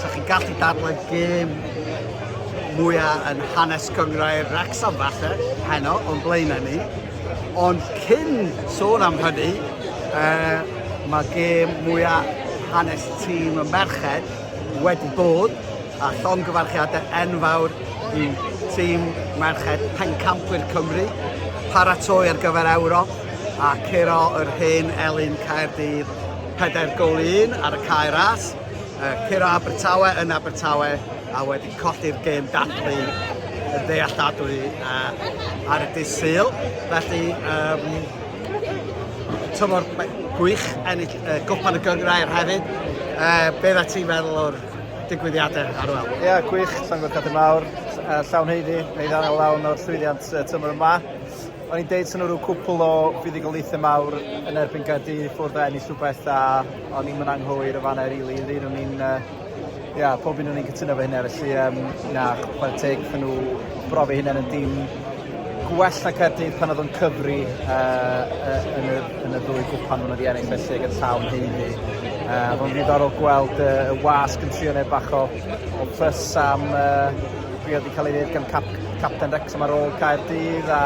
Sa chi'n gallu dadlau gêm mwyaf yn hanes gyngrau'r Wrecsam falle, heno, o'n blaenau ni. Ond cyn sôn am hynny, uh, mae gêm mwyaf hanes tîm y merched wedi bod a llongyfarchiadau enfawr i tîm merched Pencampwyr Cymru, paratoi ar gyfer Ewrop a curo yr hen elyn Caerdydd 4 gol 1 ar y cae ras. Yy, curo Abertawe yn Abertawe a wedi colli'r gêm dathlu y ddealladwy uh, ar y dydd Sul. Felly, um, tymor gwych ennill uh, gwpan y gyngrau ar hefyd. Uh, beth a ti'n meddwl o'r digwyddiadau ar ôl. Ie, yeah, gwych, Sangor Cadw Mawr, uh, llawn heiddi, neu ddan o lawn o'r llwyddiant uh, tymor yma. O'n i'n deud sy'n nhw rhyw cwpl o fuddugoliaethau mawr yn erbyn Gaerdydd i ffwrdd o ennill rhywbeth a O'n i'm yn anghywir yn fanna rili, un o'n i'n yy ia pob un o'n i'n cytuno efo hynna felly yym na chwara teg iddyn nhw brofi hynna yn y dim gwell na Caerdydd pan oedd o'n cyfri yy yy yn y yn y ddwy gwpan hwnnw wedi ennill felly ag y taw yn haeddu yy a fo'n ddiddorol gweld yy y wasg yn trio neud bach o o fuss am yy be' oedd 'di cael ei ddeud gan cap- capten Wrecsam ar ôl Caerdydd a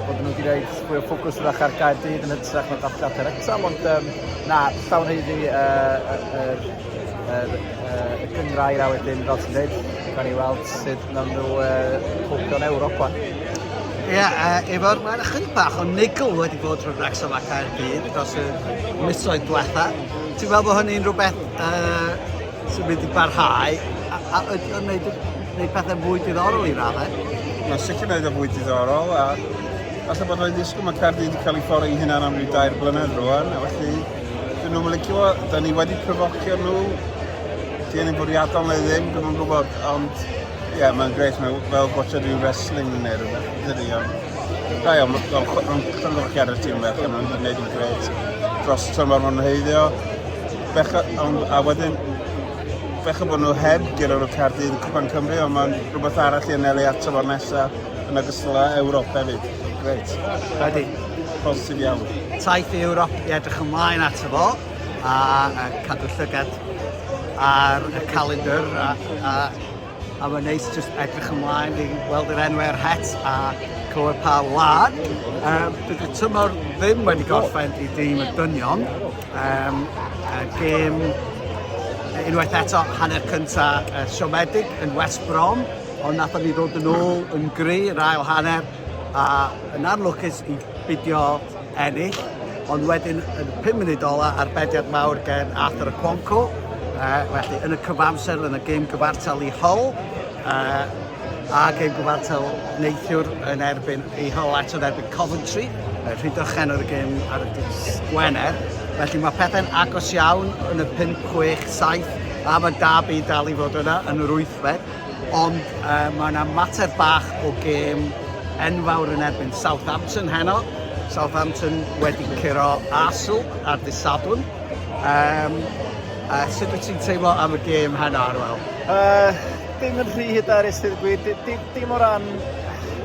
bod nhw wedi rhoid fwy o ffocws 'w'rach ar Gaerdydd yn hytrach na Wrecsam ond yym Na, llawn haeddu y, y, y, y, y, y cyngrair a wedyn, fel ti'n dweud, gan i weld sut nawn nhw uh, cwpio'n Ewrop wan. Ie, yeah, uh, efo'r mae'n ychydig bach o nigl wedi bod rhwng Wrexham ac Caerdydd dros y misoedd diwetha. Ti'n meddwl bod hynny'n rhywbeth uh, sy'n mynd i barhau a, a, a, a wneud, wneud pethau mwy diddorol i raddau? Mae'n sicr wneud o fwy diddorol a Falle bod rhaid ddisgwyl, mae Caerdydd wedi cael ei ffori hynna'n am ryw dair blynedd rwan, a felly dyn nhw'n licio, da ni wedi provocio nhw, dyn ni'n bwriadol neu ddim, dyn nhw'n gwybod, ond ie, yeah, mae'n greit, mae fel gwachod rhyw wrestling neu rhywbeth, dydy, ond da iawn, mae'n llongyfchiad y tîm bech, mae'n gwneud yn greit dros tymor maen nhw'n heiddio, becha, ond, a wedyn, becha bod nhw heb gyda'r Caerdydd yn Cwpan Cymru, ond mae'n rhywbeth arall i anelu at tymor nesaf. yn ogystal â Ewrop hefyd. Grêt. Wedi. Positif iawn. Taith i Ewrop i edrych ymlaen at y fo a, a cadw llygad ar y calendr a, a, a mae'n neis just edrych ymlaen i weld yr enwau ar het a clywed pa wlad. Um, bydd y tymor ddim wedi gorffen i dîm y dynion. Um, uh, gêm unwaith eto hanner cyntaf uh, siomedig yn West Brom Ond nathon ni ddod yn ôl yn gry yr ail hanner a yn anlwcus i bidio ennill. Ond wedyn yn y 5 munud ola ar bediad mawr gen Arthur Okonkwo, uh, felly yn y cyfamser yn y gêm gyfartal i Hull, uh, a gêm gyfartal neithiwr yn erbyn ei hol at yn erbyn Coventry, rhydychen o'r gêm ar y dis Gwener. Felly mae pethau'n agos iawn yn y 5, 6, 7 a mae Derby dal i fod yna yn yr 8fed. Ond uh, mae yna mater bach o gêm enfawr yn erbyn Southampton heno. Southampton wedi curo Arsenal ar disadwn. Um, uh, sut wyt ti'n teimlo am y gêm heno, Arwel? Uh, dim yn rhy hyderus, dweud gwir. Dim, dim, dim o ran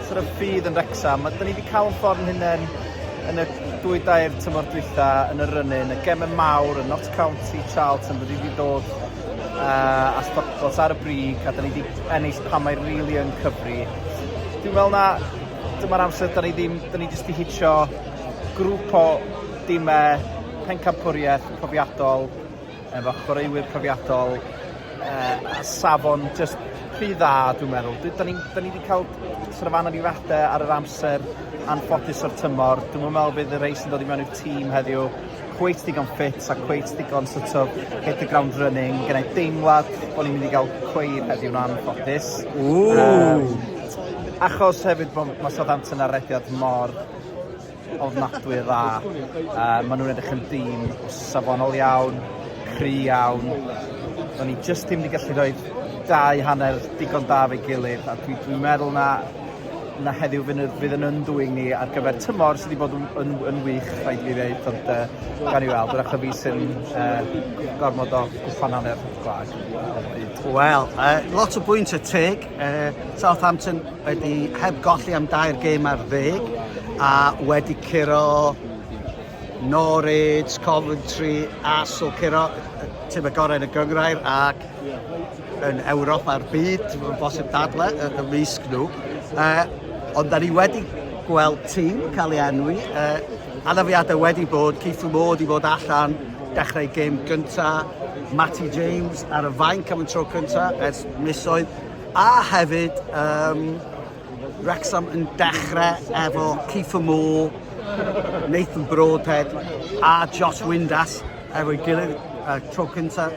sort of ffydd yn Rexham. Dyna ni wedi cael yn ffordd yn hynny'n yn y dwy dair tymor dwytha yn y rynu, yn y gemau mawr, yn Notts County, Charlton, wedi wedi dod a stopclots ar y brig a 'da ni 'di ennill pan mae rili yn cyfri. Dwi'n meddwl na dyma'r amser 'da ni ddim 'da ni jyst 'di hitio grŵp o dime pencampwriaeth profiadol efo chwaraewyr profiadol uh, a safon jyst rhy dda dwi'n meddwl. Da ni, da ni wedi cael sort of anafiadau ar yr amser anffodus o'r tymor. Dwi'n meddwl bydd y rei sy'n dod i mewn i'r tîm heddiw cweit digon ffit a cweit digon sort of hit the ground running. Mae gennau deimlad bod ni'n mynd i gael cweir heddiw'n anffodus. Ww! Um, achos hefyd bod mae Southampton ar rediad mor ofnadwy dda. Uh, maen nhw'n edrych yn dîm safonol iawn, cry iawn. Do'n ni jyst ddim wedi gallu rhoi dau hanner digon da fe gilydd a dwi'n dwi meddwl na 'na heddiw fy' n- fydd yn undwyn ni ar gyfer tymor sy 'di bod yn yn yn wych rhaid i fi ddeud ond yy gawn ni weld yr achub fi sy'n yy gormod o gwytnanne ar y gwlad ar y pryd. Wel yy lot o bwyntie teg yy Southampton wedi heb golli am dair gêm ar ddeg a wedi curo Norwich, Coventry a so curo yy yy time gorau yn y gynghrair ac yn Ewrop a'r byd, ti'n fawr bosib dadle y, y risg nhw. Uh, ond da ni wedi gweld tîm cael ei enwi. Uh, anafiadau wedi bod, Keith Moore i fod allan dechrau gêm gyntaf, Matty James ar y fainc am y tro cyntaf ers misoedd, a hefyd um, Wrecsam yn dechrau efo Kieffer Moore, Nathan Broadhead a Josh Windass efo'i gilydd y tro cyntaf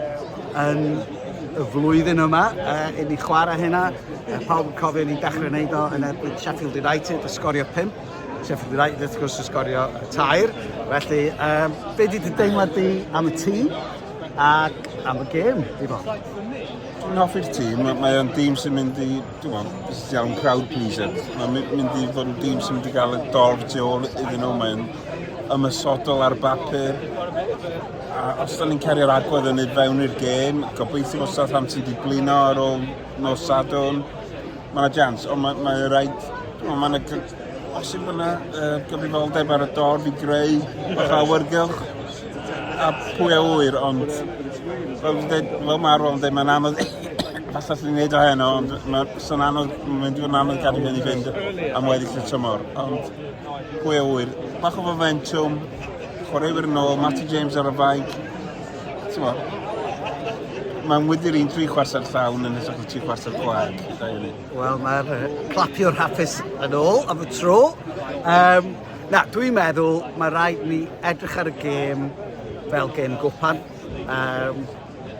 yn y flwyddyn yma uh, i ni chwarae hynna. Uh, pawb yn cofio ni'n dechrau wneud o yn erbyn Sheffield United a sgorio 5. Sheffield United wrth gwrs yn sgorio tair. Felly, um, be di dy deimlad di am y tîm ac am y gêm, di bo? Dwi'n hoffi'r tîm, mae'n tîm sy'n mynd i Dwi'n meddwl, jyst iawn crowd pleaser. Mae'n mynd i fod yn dîm sy'n mynd i gael y dorf tu ôl iddyn nhw. Mae'n ymysodol ar bapur. A os da ni'n cerio'r agwedd yn ei fewn i'r gêm, gobeithio bod Southampton wedi blino ar ôl nos Sadwn. Mae'n yna jans, ond mae'n mae rhaid... Mae'n os yw yna uh, gyfrifoldeb ar y dorf i greu o'ch awyrgylch. A pwy a ŵyr, ond fel dwi'n dweud, fel mae Arwel yn dweud, mae'n anodd falle allan ni wneud o heno, ond mae'n anodd, mae'n mynd i fod yn anodd gadw hyn i fynd am weddill y tymor. Ond pwy a ŵyr, bach o fomentwm, chwaraewyr yn ôl, Matty James ar y faig, mae'n wydr i'n tri chwarter llawn yn hytrach na tri chwarter gwag. Wel, mae'r clapiwr hapus yn ôl am y tro. Um, Na, dwi'n meddwl mae rhaid ni edrych ar y gêm fel gêm gwpan. Um,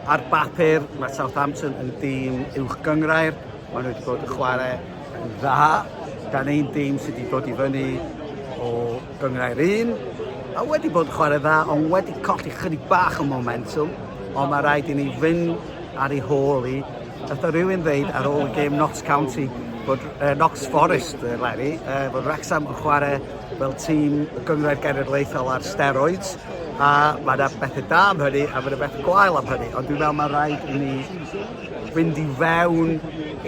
ar bapur, mae Southampton yn dîm uwch gyngrair. Mae nhw wedi bod yn chwarae yn dda. Da ni'n dîm sydd wedi bod i fyny o gyngrair un. A wedi bod yn chwarae dda, ond wedi colli chydig bach o momentum. Ond mae rhaid i ni fynd ar ei hôl i Natha rywun ddeud ar ôl y gêm Notts County bod uh, Knox Forest, uh, Larry, uh, bod Wrexham yn chwarae fel tîm y gyngrair genedlaethol ar steroids, a mae yna bethau da am hynny, a mae yna bethau gwael am hynny, ond dwi'n meddwl mae rhaid i ni fynd i fewn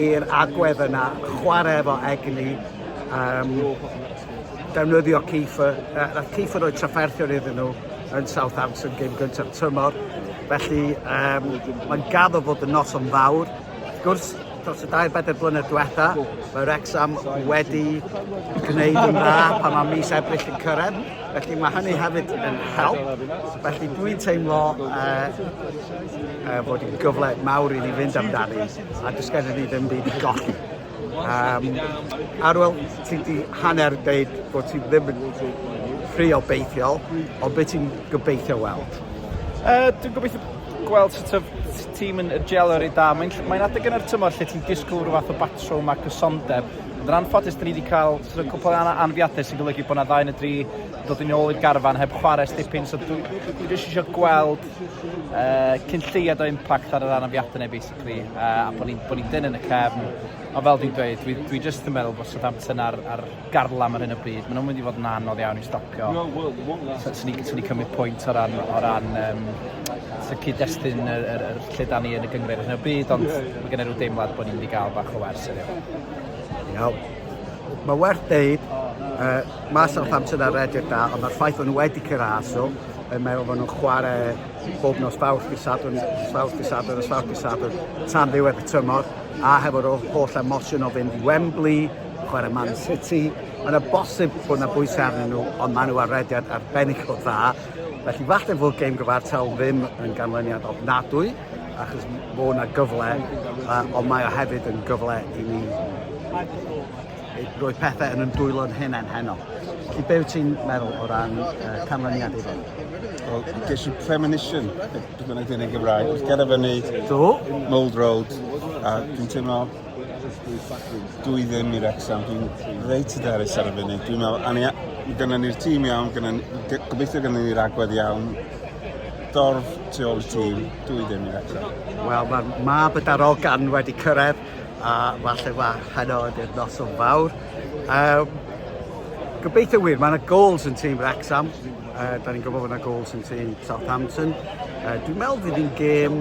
i'r agwedd yna, chwarae efo egni, um, defnyddio Kieffer, uh, nath Kieffer roi trafferthion iddyn nhw yn Southampton gym gyntaf tymor. Felly, um, mae'n gaddo fod y nos o'n fawr. Gwrs, dros y dair bedair blynedd diwetha, mae Rexham wedi gwneud yn dda pan mae mis ebryll yn cyrraedd. Felly mae hynny hefyd yn help. Felly dwi'n teimlo uh, uh, bod yn gyfle mawr i ni fynd amdani a dysgedden ni ddim byd i golli. Yym, Arwel, ti di hanner deud bod ti ddim yn ffri o beithiol, ond beth ti'n gobeithio weld? Uh, dwi'n gobeithio gweld sut of tîm yn gelo rei da. Mae'n mae adeg yn yr tymor lle ti'n disgwyl rhyw fath o batrwm a cysondeb. Yn anffodus, dyn ni wedi cael sort of, cwpl yna anfiadau sy'n golygu bod yna ddau yn y dri dod yn ôl i'r garfan heb chwarae stipyn. So dwi'n dwi eisiau gweld uh, cyn lleiad o impact ar yr anafiadau neu beth. rygbi a bod ni'n bod ni'n dynn yn y cefn, ond fel dwi'n dweud, dwi dwi jyst yn meddwl bod Southampton ar ar garlam ar hyn o bryd, maen nhw'n mynd i fod yn anodd iawn i'w stopio. So, swn i'n swn i'n cymryd pwynt o ran o ran um, so cyd-destun yr, yr, yr lle da ni yn y gyngred ar hyn o bryd, ond mae gen i rhyw deimlad bod ni'n mynd i gael bach o wers heddiw. Iawn. Mae werth deud, uh, mae Southampton ar redig da, ond mae'r ffaith bod nhw wedi cyrraedd, so yn meddwl bod nhw'n chwarae bob nos Fawrth, Dydd Sadwrn, Fawrth, Dydd Sadwrn, a Fawrth, Dydd Sadwrn, tan ddiwedd y tymor, a hefo'r holl emosiwn o fynd i Wembley, chwarae Man City, mae'n y bosib bod yna bwysau arnyn nhw, ond maen nhw ar rediad arbennig o dda. Felly falle fod gêm gyfartal ddim yn ganlyniad ofnadwy, achos bod yna gyfle, uh, ond mae o hefyd yn gyfle i ni Roedd pethau yn yn dwylo'n hunain heno. Felly be wyt ti'n meddwl o ran uh, canlyniad iddo? Wel, ges i premonition, beth bynnag dyn yn Gymraeg, wrth gerdded fyny Do? Mold Road, a dwi'n teimlo dwi ddim i'r exam, dwi'n reit y derys ar y funud. Dwi'n meddwl, ania, gyda ni'r tîm iawn, gyda, gobeithio gyda ni'r agwedd iawn, dorf tu ôl y tîm, dwi ddim i'r exam. Wel, mae'r mab y darogan wedi cyrraedd a falle fach heno ydy'r noson fawr. Um, gobeithio wir, mae yna goals yn tîm Wrexham. Uh, da ni'n gwybod bod yna goals yn tîm Southampton. Uh, dwi'n meddwl fydd hi'n gêm...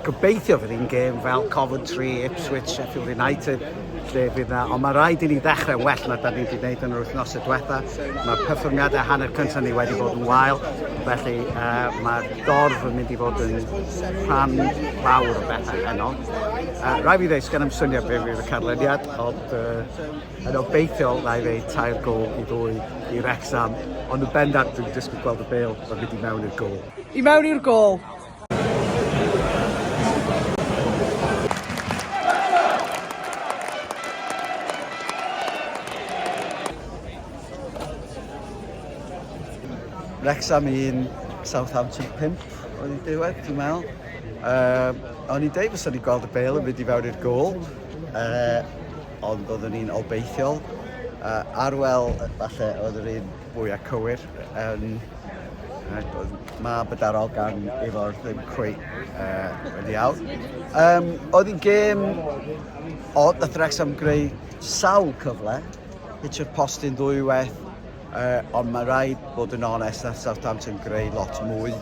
Gobeithio fydd hi'n gêm fel Coventry, Ipswich, Sheffield United. lle fydd na, ond mae rhaid i ni ddechrau well na da ni wedi gwneud yn yr wythnosau diwetha. Mae perfformiadau hanner cyntaf ni wedi bod yn wael, felly uh, mae'r dorf yn mynd i fod yn rhan fawr o bethau heno. Uh, Rhaid fi ddeud, sgan am swnio be fydd y canlyniad, ond uh, yn obeithiol na i ddeud tair gol i ddwy i Rexham, ond yn bendant dwi'n disgwyl gweld y bel o fynd i mewn i'r gol. I mewn i'r gol! Wrexham 1, Southampton 5 oedd i diwedd, dwi'n meddwl. Uh, o'n i'n deud fes o'n i'n gweld y bel yn mynd i fewn i'r gol, uh, ond oeddwn i'n obeithiol. Uh, Arwel, falle, oedd yr un fwya cywir yn mab y darogan efo'r ddim cweit uh, wedi awr. Um, oedd hi'n gêm odd, nath Wrexham greu sawl cyfle, hitio'r postyn ddwy weth, uh, ond mae rhaid bod yn onest na Southampton greu lot mwy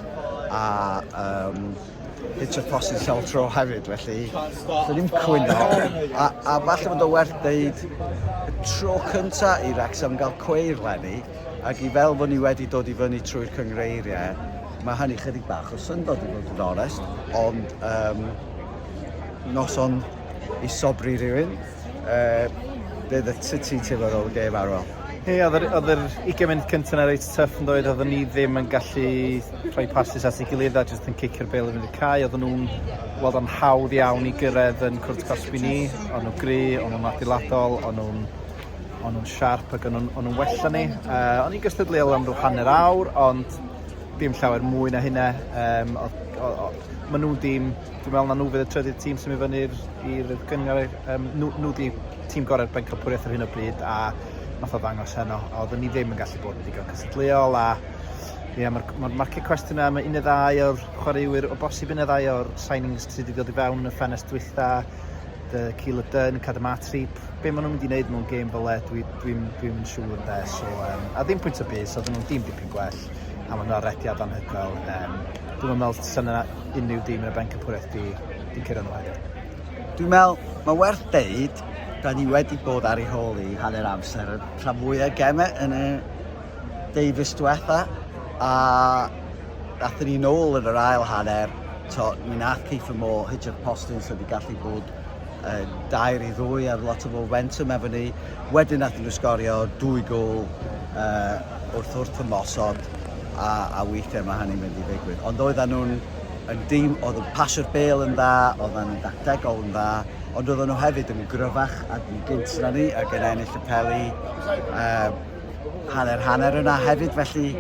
a um, It's a post yn Sel Tro hefyd, felly dwi ddim cwyno. A, a falle bod o werth deud y tro cynta i Wrexham gael cweir lenni, ac i fel fod ni wedi dod i fyny trwy'r cyngreiriau, mae hynny chydig bach o syndod i fod yn onest, ond um, noson i sobri rhywun. uh, bydd y titi ti'n feddwl y gef arwel. Ie, oedd yr, oedd yr 20 mynd cyntaf na reit tuff yn dweud, oedden ni ddim yn gallu rhoi passes at ei gilydd a jyst yn cicio'r bel yn y cae. Oedden nhw'n weld o'n hawdd iawn i gyrraedd yn cwrt cosbi ni. O'n nhw'n gry, o'n nhw'n adeiladol, o'n nhw'n o'n nhw'n siarp ac o'n nhw'n nhw wella ni. Uh, o'n i'n gystadleuol am rhyw hanner awr, ond dim llawer mwy na hynna. Um, o, o, o, maen nhw'n dim Dwi'n meddwl na nhw fydd y trydydd tîm sy'n mynd fyny i'r i'r gynghrair yym nhw nhw 'di tîm gorau'r bencampwriaeth ar hyn o bryd a wnaeth o ddangos heno a oeddwn ni ddim yn gallu bod yn ddigon cystadleuol a ie ma'r ma'r market question am un neu ddau o'r chwaraewyr o bosib un neu ddau o'r signings sydd wedi dod i fewn yn y ffenest dwytha dy Keeler Dunn, Cadam Atrip, be maen nhw'n mynd i wneud mewn gêm fel e, dwi'n dwi, dwi, dwi yn siŵr yn de, so, um, a ddim pwynt o bus, oedden nhw'n dim dipyn gwell, a maen nhw'n arediad anhygoel, um, dwi'm yn me'wl sa 'na unrhyw dîm yn y bencampwriaeth 'di 'di curo nhw heddiw. Dwi'n me'wl ma' werth deud 'da ni wedi bod ar ei hôl i hanner amser y rhan fwya o geme yn y deufis dwetha a athyn ni nôl yn yr ail hanner t'o' mi nath Kiefer Moore hitio'r postyn so 'di gallu bod yn dair i ddwy ar lot o fomentum efo ni. Wedyn nath nhw sgorio dwy gol uh, wrth wrth ymosod a, a weithiau mae hynny'n mynd i ddigwydd. Ond oedden nhw'n yn dîm oedd yn pasio'r bel yn dda, oedden nhw'n dactegol yn dda, ond oedden nhw hefyd yn gryfach ac yn gynt na ni ac yn ennill y peli uh, hanner hanner yna hefyd, felly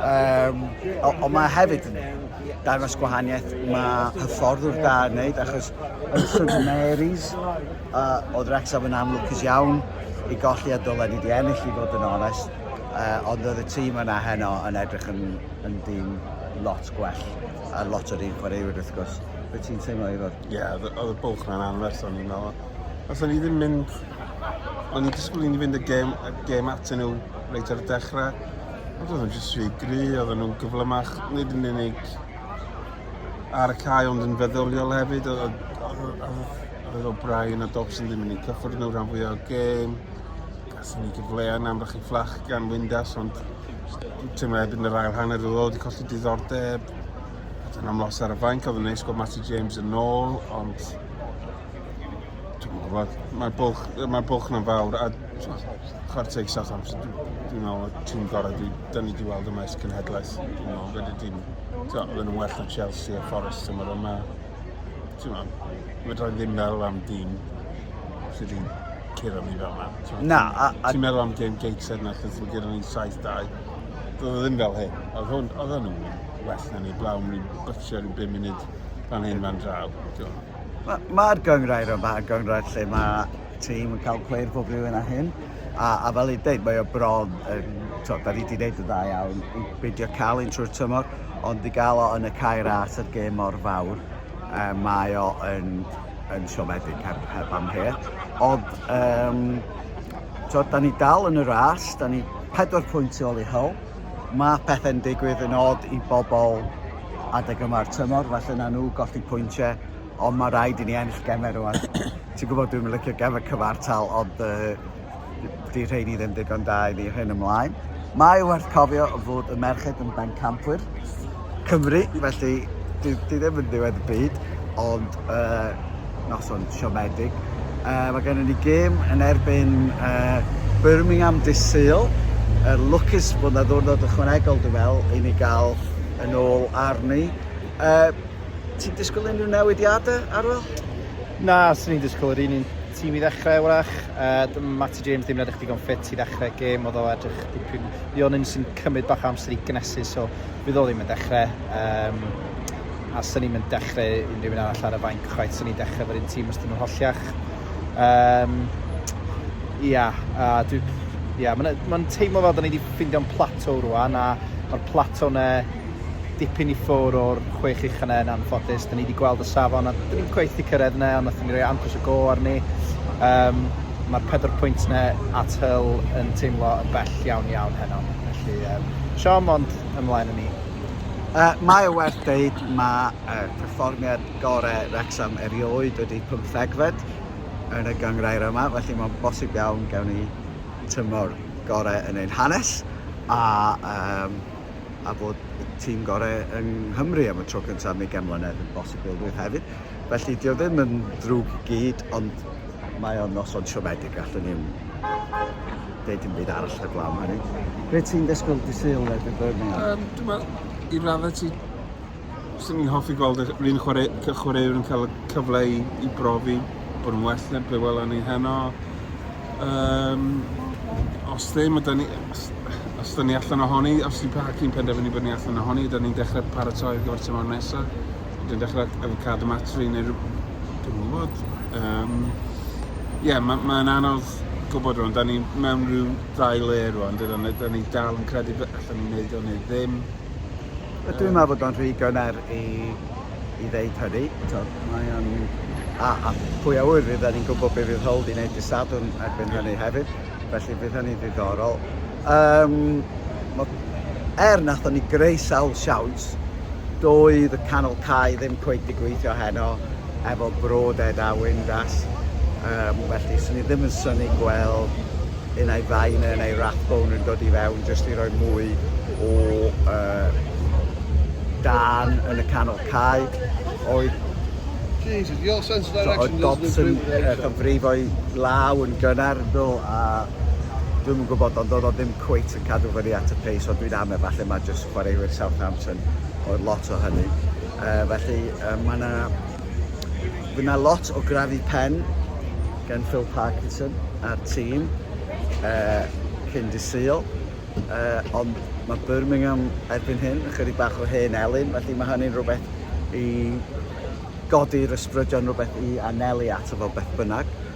um, o, o mae hefyd yn dangos gwahaniaeth mae hyfforddwr da yn wneud, achos yn St Mary's uh, oedd Rexham yn amlwcus iawn i golli a dylen ni wedi ennill i fod yn onest, uh, ond oedd y tîm yna heno yn edrych yn, yn dîm lot gwell a lot o'r un chwaraewyr wrth gwrs. Fe ti'n teimlo i fod? Ie odd y odd y bwlch 'na'n anferth o'n i'n me'wl. Nathon ni ddim mynd o'n i'n disgwl i ni fynd y gêm y gêm atyn nhw reit ar y dechre. Ond oedden nhw jyst rhy gry oedden nhw'n gyflymach nid yn unig ar y cae ond yn feddyliol hefyd oedd oedd oedd oedd oedd O'Brien a Dobson ddim yn eu cyffwrdd nhw rhan fwyaf o'r gêm. Gathen ni gyfleoedd yn amlach i fflach gan Windass ond teimlo erbyn yr ail hanner oedd o wedi colli diddordeb. Yn amlwg ar y fainc oedd yn neis gweld Matty James yn ôl, ond mae'r bwlch, mae bwlch na'n fawr a chwarae teg Southampton dwi'n meddwl y tîm gorau dwi, dyn ni wedi weld yma ys cynhedlaeth dwi'n meddwl fydde dim oedden nhw'n well na Chelsea a Forest tymor yma ti'n meddwl fydra i ddim meddwl am dîm sydd wedi curo ni fel yna na ti'n meddwl am Game Gateshead na chos mae gyda ni 7-2 doedd e ddim fel hyn oedd hwn oedd hwn yn well na ni blaw, ni bytio rhyw 5 munud fan hyn fan draw. Mae'r ma gyngrair yma, y gyngrair lle mae tîm yn cael cweir pob rhywun a hyn, a, a fel i dweud, mae o bron, um, to, da ni wedi gwneud y dda iawn i beidio cael un trwy'r tymor, ond i gael o yn y cair as a'r gêm mor fawr, um, mae o yn, yn siomedig heb, heb am her. Ond, um, to, da ni dal yn y ras, da ni pedwar pwynt i ôl i hol, Mae pethau'n digwydd yn od i bobl adeg yma'r tymor, falle na nhw golli pwyntiau, ond mae rhaid i ni ennill gemau rwan. Ti'n gwybod dwi'n licio gemau cyfartal, ond uh, di rheini ddim digon da i ni hyn ymlaen. Mae werth cofio fod y merched yn bencampwyr Cymru, felly di, di ddim yn ddiwedd y byd, ond yy noson siomedig. Yy mae gennym ni gêm yn erbyn yy Birmingham dydd Sul. Yy lwcus bod 'na ddiwrnod ychwanegol dwi'n meddwl i ni gael yn ôl arni. Yy ti'n disgwyl unrhyw newidiadau Arwel? Na, swn i'n disgwyl yr un un tîm i ddechrau wrach. Yy d- Matty James ddim yn edrych digon ffit i ddechrau gêm, oedd o edrych dipyn... Lyon Ince yn cymryd bach o amser i gynnesu, so fydd o ddim yn dechrau. Yym. a 'sen ni'm yn dechre unrhyw un arall ar y fainc chwaith, 'sen ni'n dechre efo'r un tîm os 'dyn nhw'n holliach. Um, ia, a dwi... Ia, mae'n ma teimlo fel da ni wedi ffeindio'n plato rwan, a mae'r plato ne dipyn i ffwr o'r chwech ucha ne yn anffodus. Da ni wedi gweld y safon, a da ni'n gweith i cyrraedd ne, ond nath ni roi amcus y go arni. Um, Mae'r pedwar pwynt ne at hyl yn teimlo yn bell iawn iawn heno. Felly, um, siom ond ymlaen yn ni. Mae o werth deud mae perfformiad gore Wrecsam erioed wedi pymthegfed yn y gynghrair yma felly mae'n bosib iawn gewn ni tymor gore yn ein hanes a yym a bod y tîm gore yng Nghymru am y tro cyntaf am ugain mlynedd yn bosibilrwydd hefyd. Felly, dio ddim yn ddrwg i gyd, ond mae o'n noson siomedig, allwn ni'n deud dim byd arall heblaw am hynny. Be ti'n ddysgwyl dy syl le dy Birmingham? Um, dwi'n meddwl, i raddau ti, sy'n ni'n hoffi gweld yr un chwaraewr yn cael y cyfle i, i brofi bod yn well na be welon ni heno. Um, os ddim, ydy ni, os, os ydyn ni allan ohoni, os ydy Pahaki'n penderfynu bod ni allan ohoni, ydyn ni'n dechrau paratoi ar gyfer tymor nesaf. Dwi'n dechrau efo cadw matri neu rhyw... Dwi'm yn gwybod. Yym, ie, ma- mae'n anodd gwybod rwan. Da ni mewn rhyw ddau le rwan, dydan? Da ni dal yn credu bod allan ni'n neud o neu ddim. Yy dwi'n meddwl bod o'n rhy gynnar i i ddeud hynny. T'o' mae o'n... A a pwy a ŵyr fyddan ni'n gwybod be' fydd Hull 'di neud dy' Sadwrn erbyn hynny hefyd felly bydd hynny'n ddiddorol. Yym, wel, er wnaethon ni greu sawl siawns, doedd y canol cae ddim cweit 'di gweithio heno efo brod Ed a Wyndas, yym, felly 'swn i ddim yn synnu gweld unai Viner neu Rathbone yn dod i fewn jyst i roi mwy o yy dân yn y canol cae. Oedd Jesus, your sense of direction is the Oedd Dobson yn cyfrifo'i law yn gynnar yndo a dwi'm yn gwybod ond oedd o ddim cweit yn cadw fyny at y pace oedd dwi'n ame, falle mae jyst chwaraewyr Southampton oedd lot o hynny. Uh, felly uh, mae yna Fydd yna lot o grafu pen gan Phil Parkinson a'r tîm uh, cyn disil, uh, ond mae Birmingham erbyn hyn yn chydig bach o hen elyn, felly mae hynny'n rhywbeth i godi'r ysbrydion rhywbeth i anelu ato fo beth bynnag.